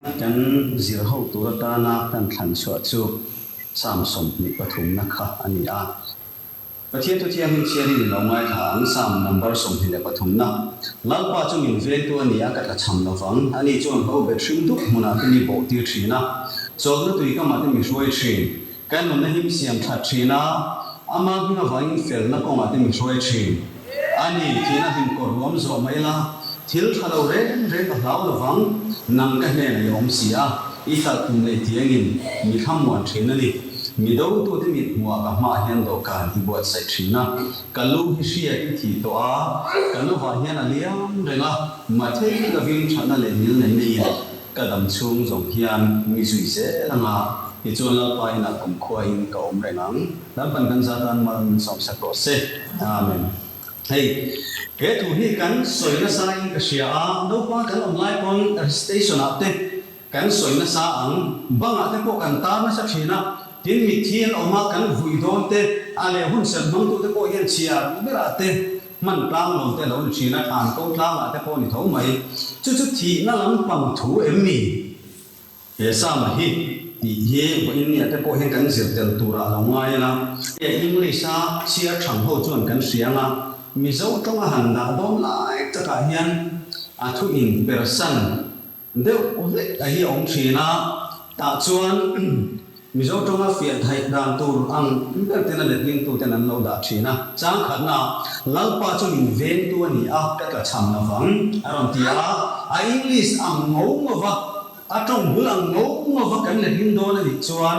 Kan zir ho tur atana kan thlan chhuah chu Psalm sawmhnih pathumna kha a ni a. Pathian thu thiang hi chiari min lo ngaithla ang, Psalm number sawmhnih leh pathumna. Lalpa chu min veng tu a ni a, ka tla chham lo vang. Ani chuan ka u bet hring dup hmunah ka ni bawh tir thin a, chawlhna tui kamah te mi hruai thin. Kan nun a him siam that thin a, a mangin a vangin felna kawng a tim hruai thin. A ni tiin a him kawr ruam zawh mai la, thil tha lo reng reng a hlau lovang, nang ka hnenah i awm si a, i tlarh tum leh tiangin mi thlamuan thin a ni. Mi dotu te mithmuhah ka hmaah hian dawhkan i buatsaih thin a, ka lu hi hriat i thih tawh a, ka lovah hian a liam reng a, mahthei lovin thatna leh ngilneihna in Ka dam chhung zawng hian mi zui zel a nga, tichuan Lalpa inah kumkhuain ka awm reng ang. Lalpan kan zat a'n mal min sawmsak rawh se. Amen. Hei he thu hi kan sawi nasain ka hria a, naupang kan awm lai pawn stationah te kan sawi nasa ang, bangah te pawh kan tar nasa thin a, tin mitthi an awm a, kan vuih dawn te a leh hunserh hmangtu te pawh hian chhiar ber a te. Hman tlang lo te lo in ṭhin a, ṭhan ko tlang ah te pawh ni tho mai. Chu chu thihna lampang thu em mi? He Sama hi tih hi vawh in nia te pawh hian kan zir tel tur ah lo ngai in a, he English a chhiar ṭhang ho chuan kan hria ang a, Mizo ṭawng a han dah dawn lai tak ah hian a thu in person, Deuh hlek a hi a awm thin a, tah chuan Mizo tawnga fianhaih dan tur ang ber ten a letling tu ten an lo dah thin a, chang khatna ah Lalpa chu min veng tu a ni a, ka tla chham lo vang a rawn ti a, a English ang ngau ngau va, a tawng bul ang ngau ngau va kan letling dawn a nih chuan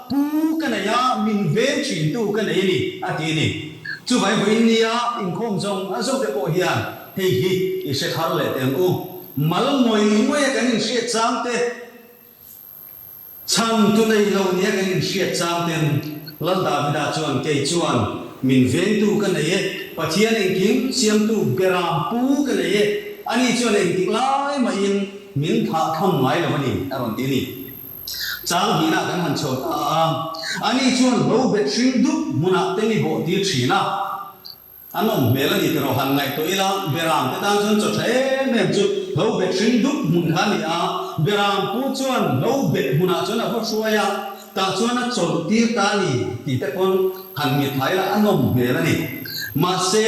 Pu ka nei a, min veng thin tu ka nei a ni, a ti a ni. Chuvai vawiin nia inkhawm zawng a zawh te pawh hian hei hi i hre thar leh teh ang u. Mal ngawih ngawih a kan inhriat chang te, chhan tu nei lo nia kan inhriat chang ten Lal Davida chuan kei chuan min veng tu ka nei e, Pathian engkim siam tu bera pu ka nei e, ani chuan engtik lai mahin min thah tham ngai lo a ni, a rawn ti a ni. Chang hnihna kan han chho ta a, ani chuan bo bet hring dup hmunah te ni bawh tir thin a, an awm hmel a ni tih rawh han ngaih tawh ila, Beram te tan chuan chawṭha em em chu bo bet hring dup hmun kha a ni a, Beram pu chuan bo bet hmunah chuan a va hruai a, tah chuan a chawlh tir ta a ni tih te pawn han nghet thla ila, an awm hmel a ni. Mahse,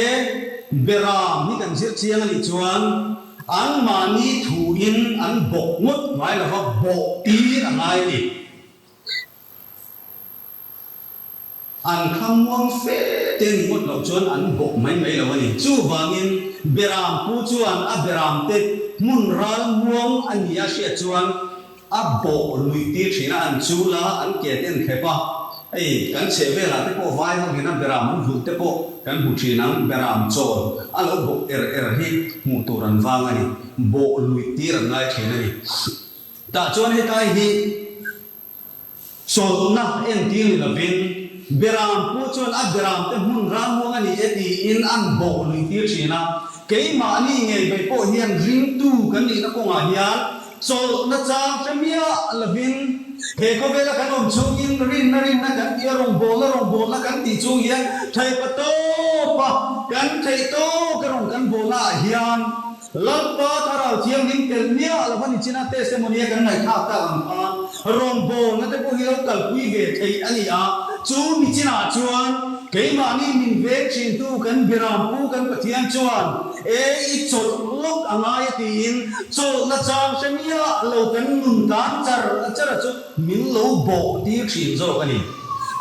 Beram hi kan zirhchiang a nih chuan, An mahni thu in an bawk ngawt ngai lo va, bawh pi a ngai ni. An kha muang fe te ni ngawt loh chuan an bawk mai mai lo a ni. Chuvangin Beram pu chuan a Beram te hmun ral muang a nia hriat chuan, A bawh lui tir thin a, an chul a, an ke te an thep a, ei kan chhehvel ah te pawh vai ho hena bera mun vulh te pawh kan hmu thin ang, beraam chawl a lo bawh er er hi hmuh tur an vang a ni, bawh lui tir an ngai thin a ni. Tah chuan hetlai hi. Sawtnak entir ni lovin Beram pu chuan a Beram te hmun ralmuang a ni e tiin an bawh luitir thin a. Keimahni ngei mai pawh hian ringtu kan nihna kawngah hian chawlhna chang hre miah lovin he khawvela kan awm chungin rinna rinna kan tia rawngbawlna rawngbawlna kan tih chung hian thaipa tawpa kan theih tawka rawn kan bawlh naah hian Lalpa Thlarau Thianghlim tel miah a lo va ni chin a, testimony a kan ngaihthlak tak ang kha rawngbawlna te pawh hi lo kalpui ve thei a ni a, chu ni chin ah chuan keimahni min veng thin tu kan Biram Pu kan Pathian chuan e i chawlh lawk a ngai a tiin chawlhna chang hre miah lo kan nun tan char char a chu min lo bawh tir thin zawk a ni.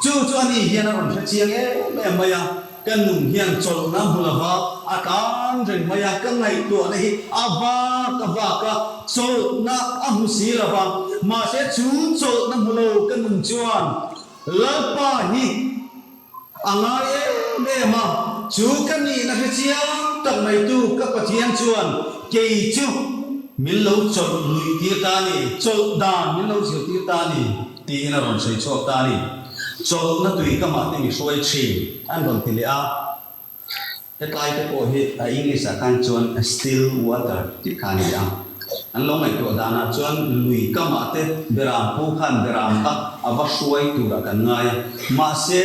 Chu chu a ni hian a rawn hrechiang em em mai a. Ka nun hian chawlhna hmu lova a tlan reng mai a, ka ngaihtuahna hi a vak a vak a, chawlhna a hmu si lova, mahse chu chawlhna hmu lo ka nun chuan Lalpa hi a ngai em em a, chu ka nihna hre chiang tak mai tu ka Pathian chuan kei chu min lo chawlh luih tir ta a ni, chawlh dan min lo zir tir ta a ni. Tiin a rawn sawi chhuak ta a ni. Chawlhna tui kamah te mi hruai thin an rawn ti leh a. Hetlai te pawh hi a English ah khan chuan still water tih kha a ni a. An lo ngaihtuah danah chuan lui kamah te beraam pu khan beraam tak a va hruai tur a kan ngai a. Mahse.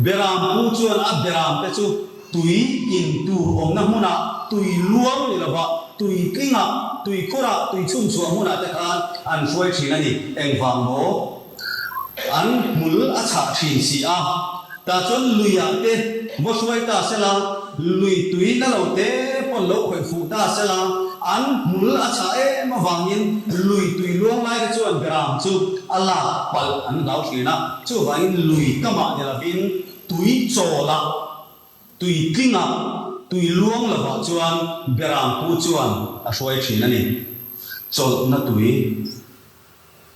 Beram pu chuan a beram te chu tui in tur awmna hmuna, tui luang ni lova, tui tlinga, tui khura, tui chhunchhuah hmuna te khan an hruai thin a ni. Engvang maw? An hmul a chhah thin si a. Tah chuan luia te va hruai ta se la, lui tui na lo te pawn lo khawih fuh ta se la, an hmul a chhah em avangin lui tui luang lai te chuan beram chu a lak palh an zau thin a. Chuvangin lui kamah ni lovin tui chawla, tui tlinga, tui luang lovah chuan Berang pu chuan a hruai thin a ni. Chawlhna tui,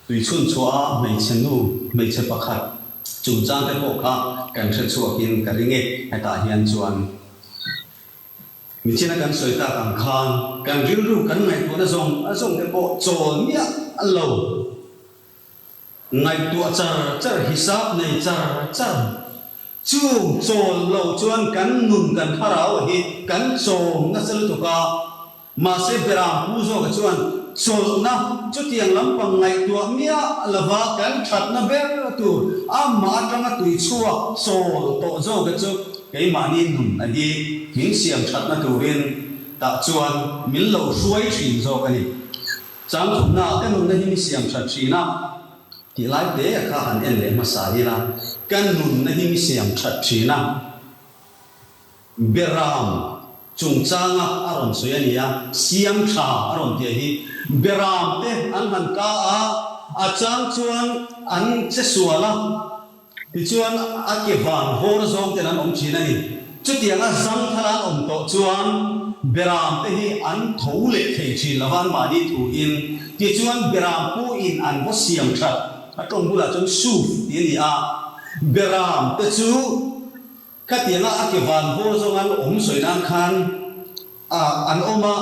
tui chhunchhuah a hmeichhe nu, hmeichhe pakhat chungchang te pawh kha kan hre chhuakin ka ri nge hetah hian chuan mithiana kan sawi tak ang khan kan rilru kan ngaihtuahna zawng zawng te pawh chawl miah lo. Ngaihtuah char char hi sap nei char char. Chung chawl lo chuan kan nun kan thlarau hi kan chawm nasa lutuk a. Mahse Beram pu zawkah chuan chawlhna chutiang lampang ngaihtuah miah lova kan thatna ber tur amah atanga tui chhuak chawl tawh zawkah chu keimahni nun a hi thing siam thatna turin tah chuan min lo hruai thin zawk a ni. Chang thupna ah ka nunna hi mi siam that thin a tih lai te kha han en leh hmasa ila, ka nunna hi mi siam that thin a Beram chungchang a a rawn sawi a nia, siam tha a rawn tia hi Beram te an han ka a, a chang chuan an che sual a. Tichuan, a kevan hawr zawng ten an awm thin a ni. Chutiang a zangthar an awm tawh chuan Beram te hi an tho leh thei thin lo va, an mahni thu in. Tichuan, Beram pu in an va siam that. A tlawm bulah chuan Suf tih a ni a, Beram te chu Khatianga a kevan bawr zawng an awm sawi nan khan a an awm a,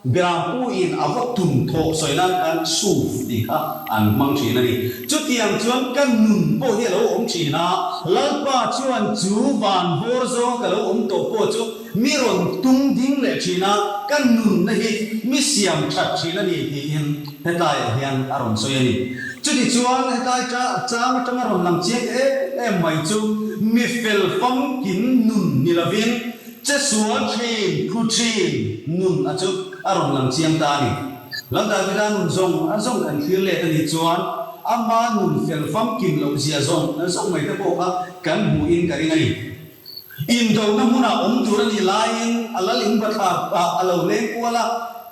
Birampu in a va tum thawh sawi nan khan Suv tih kha an hmang thin a ni. Chutiang chuan ka nun pawh hi a lo awm thin a, Lalpa chuan chu van bawr zawnga ka lo awm tawh pawh chu mi rawn tum ding leh thin a, ka nunna hi mi siam that thin a ni tiin, Hetlaiah hian a rawn sawi a ni. Chutichuan hetlai cha chang atanga rawn lang chiang em em mai chu mi fel famkim nun ni lovin chesua thin, phu thin nun a chu a rawn lang chiang ta a ni. Lam Davida nun zawng a zawng kan thlir let a nih chuan ama nun fel famkim lohzia zawng zawng mai te pawh kha kan hmuhin ka ring a ni. Indohna hmunah awm tur a nih laiin a lal in bathlar ah a lo leng kual a,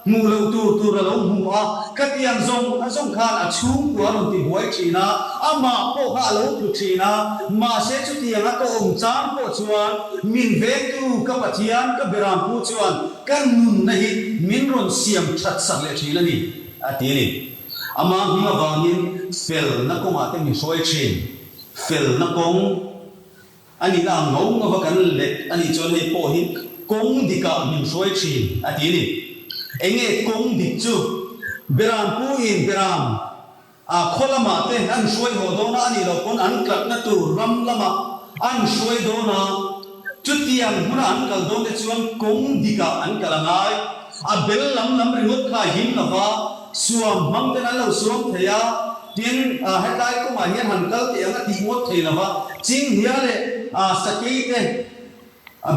hmuh loh tur tur a lo hmu a, ka tiang zawng a zawng khan a chhungkua a rawn ti buai thin a, amah pawh kha a lo tlu thin a, mahse chutiang a tawhawm chang pawh chuan min vengtu ka pathian ka birampu chuan ka nunna hi min rawn siam thatsak leh thin a ni a ti a ni. Amah hming avangin felna kawngah te min hruai thin, felna kawng. A nih a ang ngau ngau a kan let a nih chuan hei pawh hi kawng dik ah min hruai thin a ti a ni. Eng nge kawng dik chu? Beram pu in Beram ah khaw lam ah te an hruai haw dawn a, a nih loh pawn an kal na tur ram lam ah an hruai dawn a, chu tiang hmun ah an kal dawn te chuan kawng dik ah an kal a ngai. A bel lam lam ringawt kha a him lo va. Suam hmang ten an lo suam thei a, tin hetlai kawngah hian han kal teh ang a tih ngawt thei lo va, Chinghria leh sakei te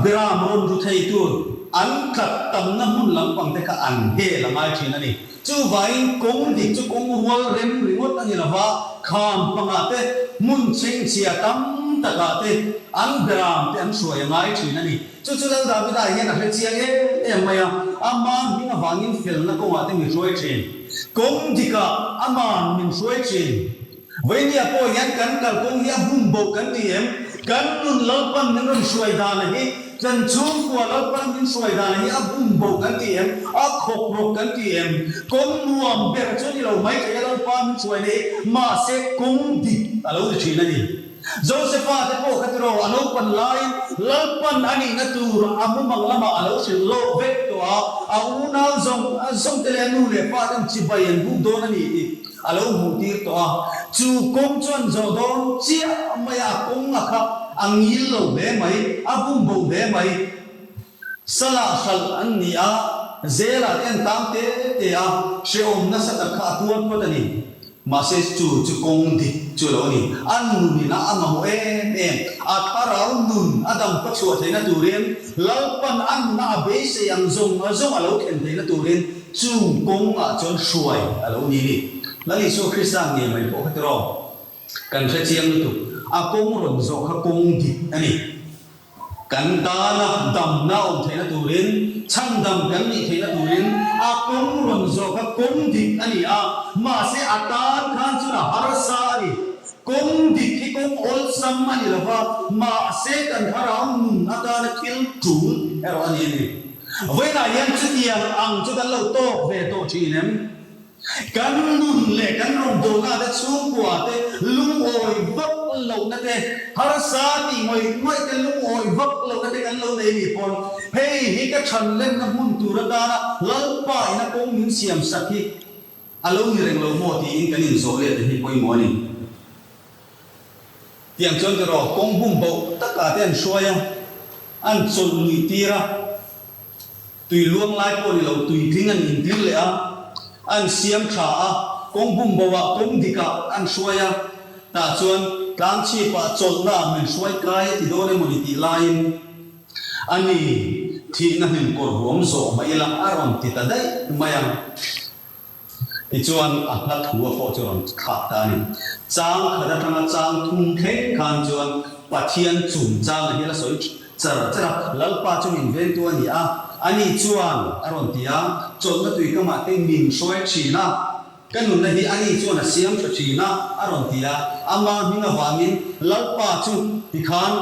Beram rawn ru thei tur an tlat tamna hmun lampang te kha an hel a ngai thin a ni. Chu vain kawng dik chu kawng rual rem ringawt a ni lo va, kham panga te, hmun chhengchhia tam takah te an Beram te an hruai a ngai thin a ni. Chu chu lo Davida hian a hre chiang em em mai a, a man hming avangin felna kawngah te mi hruai thin. Kawng dikah a man min hruai thin. Vawimia pawh hian kan kalkawng hi a bum bo kan ti em? Kan nun lalpan min rawn hruai dana hi, kan chhungkua lalpan min hruai dana hi a bum bo kan ti em? A khawp rawh kan ti em? Kawng nuam ber chuan i lo mai theih a, lo pa min hruaina hi mahse kawng dik a lo ti thin a ni. Josepha te pawh khatiraw a lo pan lai, lalpan a nihna tur a mumang lamah a lo hrilh lawh vek tawh a, a unau zawng zawng te leh a nu leh pa ten chibai an buk dawn a ni tih a lo hmuh tir tawh a, chu kawng chuan zawh dawn chiah mai a, a kawng a khap a ngil lo hle mai, a bum bo hle mai, sala hral an ni a, zela te an tang te te a, hrehawm nasa tak kha a tuar phawt a ni. Mahse chu chu kawng dik chu lo ni. A nun ina a mamawh em em. A thlarau nun a dam pachhuah theihna turin, Lalpan a nuna a beisei ang zawng zawng a lo thlen theihna turin chung kawng ah chuan hruai a lo ni ni. Lal Isua Krista ngei mai pawh khatiraw? Kan hrechiang lutuk. A kawng rawn zawh kha kawng dik a ni. Kan dana damna awm theihna turin chhandam kan nih theihna turin a kum rawn zawka kum dik a ni a, mahse a tan khan chuna harsa a ni. Kum dik hi kum awlsam a ni lova, mahse kan thlarau nun atana thil tul erawh a ni a ni. Vawiinah hian chutiang ang chu kan lo tawk ve tawh thin em? Kan nun leh kan rawngbawnah te chhungkua te lungawi vak lohna te, harsa tih ngawih ngawih te lungawi vak lohna te kan lo nei nih pawn, hei hi ka thanlenna hmun tur atana Lalpa ina kawng min siam sak hi a lo ni reng lo maw tiin kan inzawh let te hi pawimawh a ni. Tiang chuan tiraw, kawng bum boh takah te an hruai a, an chawlh luih tir a. Tui luang lai pawh ni lo tui tling an intling leh a, an siam tha a, kawng bum boah kawng dik ah an hruai a, tah chuan tlang chhip ah chawlh na ah min hruai kai a ti dawn emawni tih lai in a ni thihna hlim kawr huam zawh mai ila a rawn ti ta daih mai a. Tichuan a hla thua pawh chu rawn thlak ta a ni. Chang khat atanga chang thum thleng khan chuan Pathian chum changa hi a la sawi char char a, Lalpa chu min ventu a ni a, a ni chuan a rawn ti a, chawlhna tui ka mah te min hruai thin a, ka nunna hi a ni chuan a siam tha thin a, a rawn ti a, amah hming avangin Lalpa chu tikhan.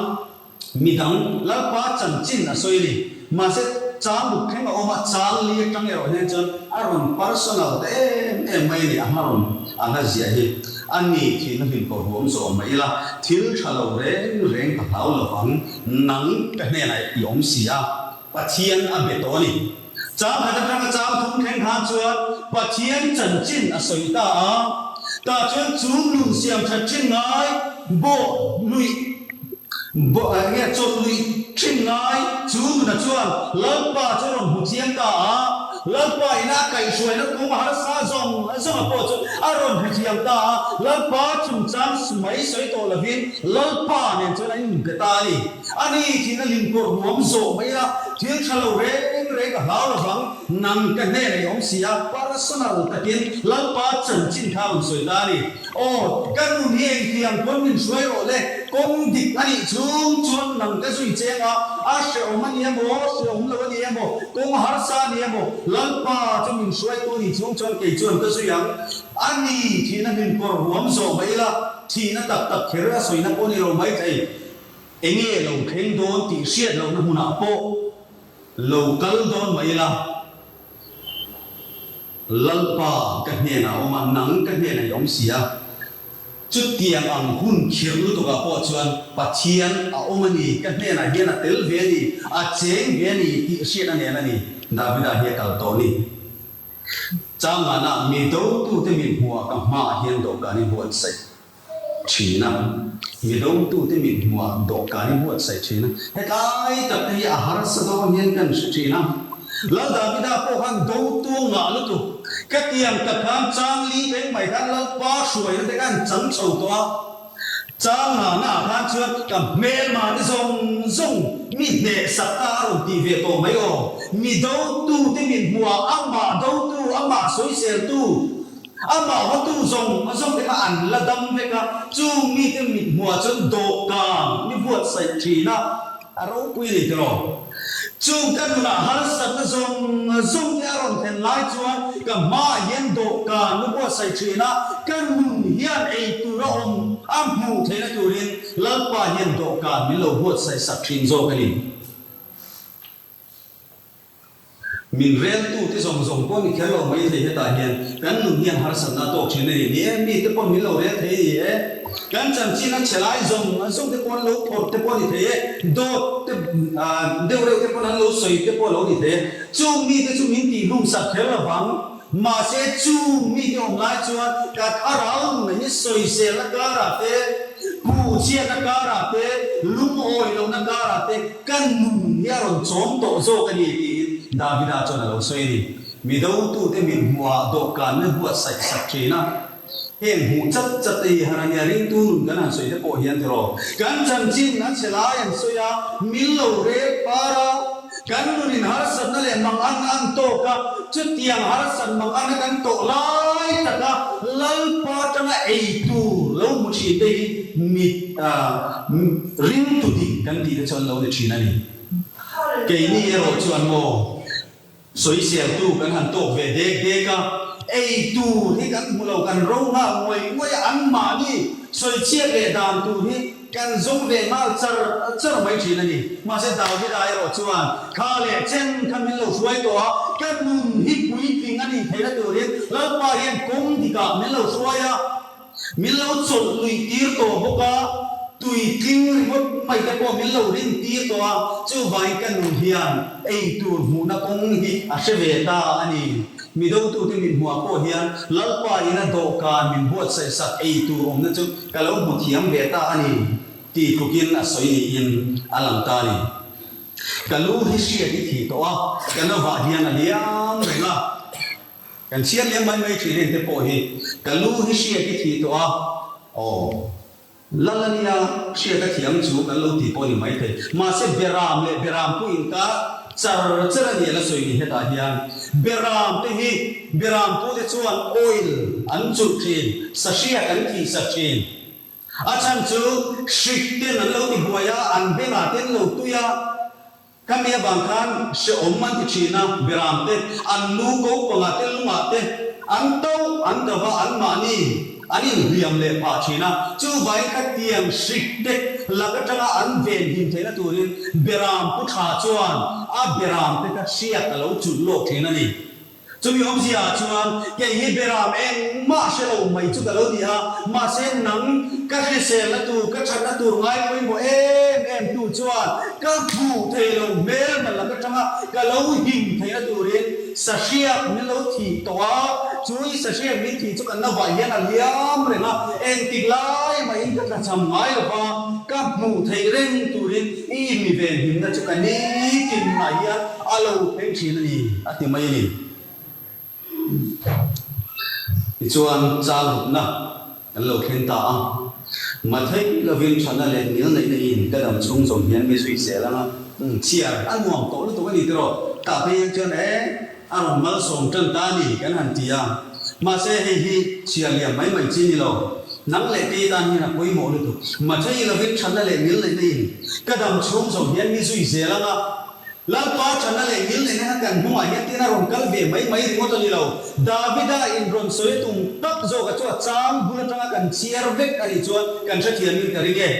Mi dang, Lalpa chanchin a sawi a ni. Mahse, chang buk thleng a awm a, chang li atang erawh hian chuan a rawn personal ta em em mai a ni, a hma rawn a hla ziah hi. A ni thin na hlim tawh huam zawh mai ila, thil tha lo reng reng ka hlau lovang, nang ka hnenah i awm si a, Pathian a be tawh a ni. Changkhat atanga chang thum thleng hna chuan Pathian chanchin a sawi ta a. Tah chuan chu nun siamthat thin ngai bawh luih bawh eng nge chawt luih thin ngai chu nuna chuan Lalpa chu a rawn hmu thiam ta a. Lalpa ina a kaih hruaina kung harsa zawng zawnga pawh chu a rawn hmu thiam ta a. Lalpa chungchang mai sawi tawh lovin Lalpa nen chuan an inpe ta a ni. A ni tiin a lim pawrh nuam zawh mai a, thil tha lo reng reng a hlau lovang, nang ka hnenah i awm si a, personal takin Lalpa chanchin kha rawn sawi ta a ni. Aw, ka nun hi engtiang pawn min hruai rawh le, kawng dik a nih chung chuan nang ka zui cheng a, a hrehawm a ni em aw, hrehawm lo a ni em aw, kawng harsa a ni em aw, Lalpa chu min hruai tu a nih chung chuan kei chuan ka zui ang a ni tiin a hlim pawrh ruam zawh mai ila, thihna tak tak kher a sawina pawh a ni lo mai thei. Enge lo thleng dawn tih hriat lohna hmunah pawh lo kal dawn mai ila, Lalpa ka hnenah awm a, nang ka hnenah i awm si a. Chutiang ang hun khirh lutukah pawh chuan Pathian a awm a ni, ka hnenah hian a tel ve a ni, a cheng ve a ni tih hriat a nen a ni. Davida hi a kal tawh a ni. Changana mi dotute mithmuhah ka hmaah hian dawhkan i buatsaih. thin a, mi dawngtute mithmuah dawhkani buatsaih thin a, hetlai tak te hi a harsa dawn hian kan hre thin a. Lal Davida pawh khan dawngtu ngah lutuk ka tiang tak khan chang li beng mai khan Lalpa hruaiin te khan chang chho tawh a, chang nghahna ah khan chuan ka hmelmahni zawng zawng mi hneh sak ta a rawn ti ve tawh mai aw, mi dawngtute mithmuah amah dawngtu amah sawizeltu, A mahwatu zawng zawng ema an la dam vek a, chung mite mit hmua chuan dawhkan ni buatsaih thin a, a ropui ni tawh lo. Chung ka nunah harsatna zawng zawng te a rawn hlen lai chuan ka hmaah hian dawhkan ni buatsaih thin a, ka nun hian ei tur a awm a hmuh theih na turin Lalpa hian dawhkan min lo buatsaih sak thin zawk a ni. Min reltu te zawng zawng pawh ni kher lo mai thei hetah hian kan nun hian harsatna tawk thin a ni ni e, mi te pawh min lo rel thei a ni e, kan chanchin a chelai zawng zawng te pawh an lo phawrh te pawh a ni thei e, dawt te deuhreuh te pawn an lo sawi te pawh a lo ni thei e, chung mi te chu min tih hlum sak kher avang. Mahse, chung mi hi awm lai chuan kat a rau nunna hi sawizelna karah te, pu chhiatna karah te, lungawi lohna karah te ka nun hi a rawn chawm tawh zawk a ni, tiin Davida chuan a lo sawi a ni. Midotute mithmuhah dawhkanna buatsaihsak thin a. Heng hmuh chat chat a ni han ania, ringtu nun kan han sawi te pawh hian tiraw. Kan chanchin a che lai an sawi a, mil lo rel par a, kan nunin harsatna leh mang an ang tawk a, chutiang harsat mang an a kan tawh lai taka Lalpa tanga ei tur lo hmu thin te hi mit ringtu dik kan tih te chuan lo ni thin a ni. Keini erawh chuan maw. Sawi siamtu kan han tawk ve dek dek a, ei tur hi kan hmuh lo kan ro nghal muai muai a anmahni sawi chhiat leh dan tur hi kan zawng ve nghal char char mai thin a ni. Mahse Davida erawh chuan kha leh chen kha min lo hruai tawh a, ka nun hi puitling a nih theih na turin Lalpa hian kawng dik ah min lo hruai a, Min lo chawlh nui tir tawh bawk a, tui tling ringawt mai te pawh min lo rin tir tawh a, chuvain ka nu hian ei tur hmuhna kawng hi a hre ve ta a ni. Mi dotute min hmuhah pawh hian Lalpa ina dawhkan min buatsaihsak ei tur awmna chu ka lo hmu thiam ve ta a ni, ti tlukin a sawi niin a lang ta a ni. Ka lu hi hriat i thi tawh a, ka nova hian a liam reng a. Kan chhiar leh mai mai thin en te pawh hi ka lu hi hria hi thi tawh a, aw lal a nia hria ka thiam chu kan lo ti pawh ni mai thei. Mahse Beram leh Beram pu in kar char char a ni ala sawi ni hetah hian Beram te hi Beram pu te chuan oil an chulh thin, sahriat an thih sa thin. A chhan chu hrik ten an lo ti buai a, an bengah ten lo tui a. Ka mi avang khan hreawm an ti thin a, Biram te, an nu ko panga te, Luma te, an to an ka va an mahni an in hliam leh pah thin a, chu vain kha tiang hrik dek lak atanga an ven him theihna turin Biram pu tha chuan a Biram te kha hriat a lo chulh lawk thin a ni. Chumi awmzia ah chuan kei hi beram engmah hre lo mai chu ka lo ni a, mahse nang ka hrisel na tur, ka that na tur ngai pawimawh em em tu chuan ka hmuh thei lo hmel hman lak atanga ka lo him thei na turin sahriat min lo thih tawh a, chu i sahriat min thih chu kan na vai hian a liam reng a, engtik lai mahin ka thlachham ngai lova ka hmuh thei reng turin. I mi ve hlimna chu ka ni tin mah hian a lo pheng thin a ni, a ti mai a ni. Tichuan, changhawlhna kan lo thleng ta a, hmatheih lovin thahna leh ngil neihna in ka dam chhung zawm hian mi zui zel anga chhiar a nuam tawh lutuk a ni tiraw? Tah phei hian chuan e. A rawn malsawm tan ta a ni kan han ti a, mahse hei hi chhiar liam mai mai chi ni lo. Nang leh tei tan hian a pawimawh lutuk. Mahse i lovin thatna leh ngil neihna in ka dam chhung zawng hian mi zui zel anga Lalpa thatna leh ngil neihna kha kan hnungah hian tin a rawn kal ve mai mai ringawt a ni lo. Davida in rawn sawi a tum tak zawk a chu a chang bul atanga kan chhiar vek a nih chuan kan hrethiam in ka ring e.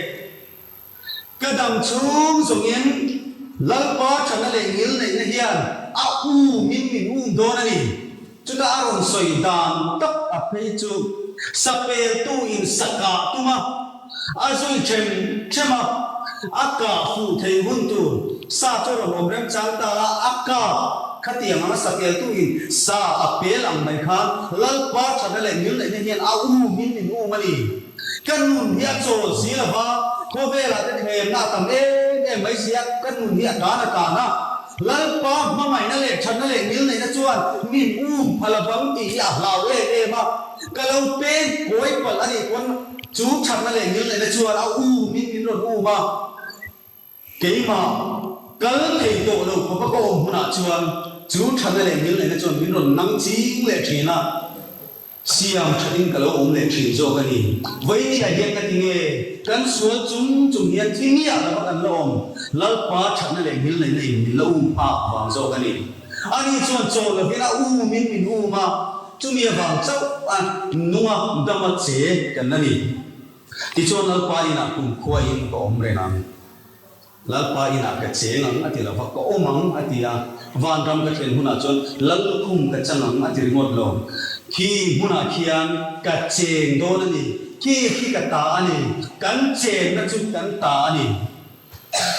Ka dam chhung zawngin Lalpa thana leh ngil neihna hian a umin min um dawn a ni. Chutah a rawn sawi dan tak a phei chu sapeltu in sakah tuma a zui ṭhem ṭhem a, a kah fuh thei hun tur sa chu a rawn awm remchang ta a, a kap khatiang anga sapeltu in sa a pel ang mai khan Lalpa thana leh ngil neihna hian a umin min um a ni. Kan nun hi a chawl si lo va, khawvela te thlenna a tam em em mai si a, kan nun hi a tlan a tlan a. Lalpa hmangaihna leh thatna leh ngil neihna chuan min um pha lovang tih hi a hlau em em a. Ka lo pen kawi palh a nih pawn chu thatna leh ngil neihna chuan a um in min rawn um a. Keimah kal thei tawh lo papa ka awm hunah chuan chu thana leh nil neina chuan min rawn nang ching leh thin a, siam thatin ka lo awm leh thin zawk a ni. Vaini a hian ka ti nge kan sual chum chum hian thil nge ah lova kan la awm, Lalpa thatna leh nil neina in min la um nghak vang zawk a ni. Ani chuan chaw lovin a um in min um a, chumi avang chauh a nunga dama che kan la ni. Tichuan Lalpa inah kumkhua in ka awm reng ang. Lalpa inah ka cheng ang a ti lo va, ka awm ang a ti a. Vanram ka thlen hunah chuan Lal lukhum ka chang ang a ti ringawt lo. Khi hmunah khian ka cheng dawn a ni. Khi khi ka ta a ni. Kan chenna chu kan ta a ni.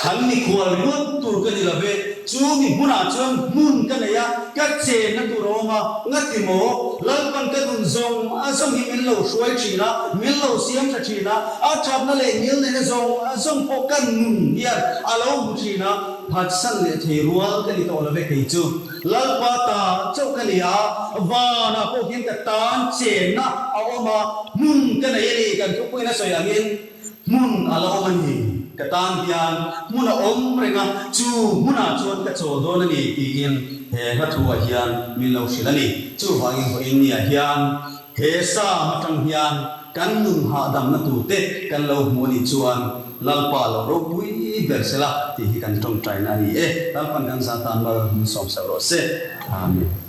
Han mikhua luat tur ka ni love, chu mi hmunah chuan hmun ka nei a, ka chenna tur a awm a, ngati maw? Lalpan ka nun zawng a zawng hi min lo hruai thin a, min lo siam tha thin a, a thatna leh nil neina zawng a zawng pawh ka nun hian a lo hmu thin a, phatsan leh thei rual ka ni tawh love kei chu. Lalpa ta chauh ka ni a, vanah pawh hian ka tan chenna a awm a, hmun ka nei a ni kan thupui na sawi angin. Hmun a la awm a ni. Ka tan hian hmun a awm reng a, chu hmunah chuan ka chaw dawn a ni, tiin he hla thua hian min lo hrilh a ni. Chuvangin haw Inniah hian he Psalm atang hian kan nun hahdamna turte kan lo hmu a nih chuan Lalpa lo ropui ber se la, tih hi kan tawngtaina a ni e. Lalpa'n kan zah tan mal, min sawmsel rawh se. Amen.